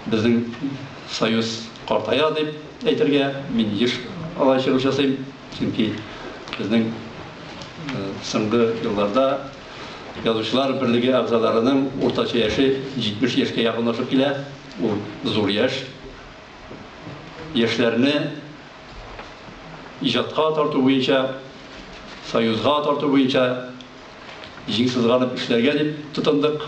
Безнең союз картая дип әйтергә мин еш алай чыгыш ясыйм, чөнки безнең соңгы елларда Язучылар берлеге әгъзаларының уртача яше 70 яшькә якынлашып килә, ул зур яшь. Яшьләрне иҗатка тарту буенча, союзга тарту буенча җиң сызганып эшләргә дип тотындык.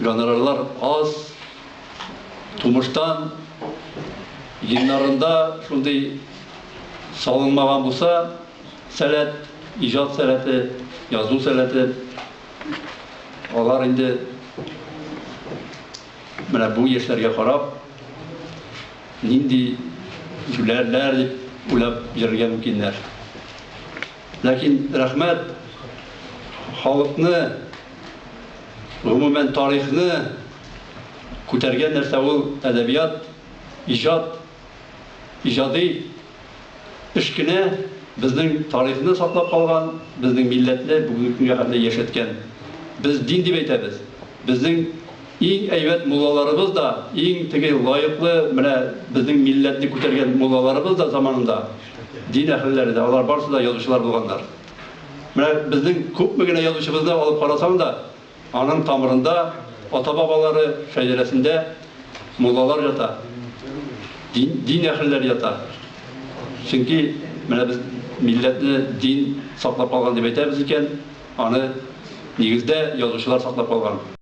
Гонорарлар аз, тумыштан геннарында шундый салынмаган булса, сәләт, иҗат сәләте, язу сәләте, алар инде менә бу яшьләргә карап, нинди җүләрләр дип уйлап йөрергә мөмкиннәр. Ләкин рәхмәт халыкны, гомумән тарихны күтәргән нәрсә ул әдәбият, иҗат, иҗади эш кенә безнең тарихны саклап калган, безнең милләтне бүгенге көнгә хәтле яшәткән. Без дин дип әйтәбез. Безнең иң әйбәт муллаларыбыз да, иң теге лаеклы менә безнең милләтне күтәргән муллаларыбыз да заманында, Дин әһелләре дә, алар барысы да язучылар булганнар. Менә безнең күпме генә язучыбызны алып карасаң да, аның тамырында, ата-бабалары шәҗәрәсендә муллалар ята, дин, дин әһелләре ята. Чөнки менә без милләтне дин саклап калган дип әйтәбез икән, аны нигездә язучылар саклап калган.